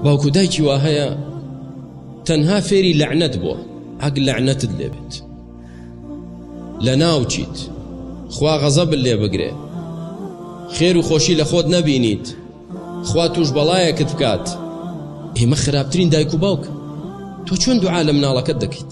باوکو دایکی وا هەیە تەنها فێری لەعنەت بووە ئەگ لەعنەتت لێبێت لە ناوچیت خوا غەزەب لێ بگرێ خێر و خۆشی لە خۆت نەبینیت خوا توش بەڵایەکت بکات ئێمە خراپترین دایک و باوک تۆ چۆن دوعا لە مناڵەکەت دەکەیت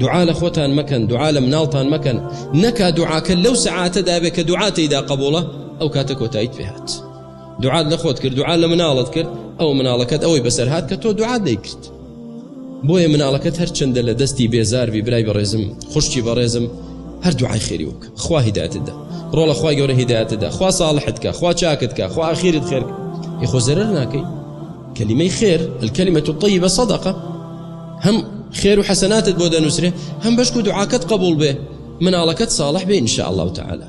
دوعا لە خۆتان مەکەن دوعا لە مناڵتان مەکەن نەکا دوعاکە لەو سەعاتە دابێت کە دوعا تێیدا قبوڵە ئەو کاتە کۆتاییت پێهات دوعات لە خۆت کرد دوعا لە مناڵت کرد ئەو مناڵەکەت ئەوەی بەسەر هاات کە تۆ دوعا دەیکرد بۆیە مناڵەکەت هەر چنددە لە دەستی بێزاربی برای بەڕێزم خوشتی بەڕێزم هەر دوعای خێری وک خوا هیداتدا ڕۆڵە خخوای گەورە هیداتدا خوا ساڵحتکە خوا چاکتکە خوا ئاخیرت خێر یخۆ زەرەر ناکەی کەلیمەی خێر الکەلیمە و طی بە سەدەقە هەم خێر و حەسەناتت بۆ دەنووسرێ هەم بەشکو دوعاکەت قبول بێ مناڵەکەت ساڵح بێ ان شاء اللە تعالی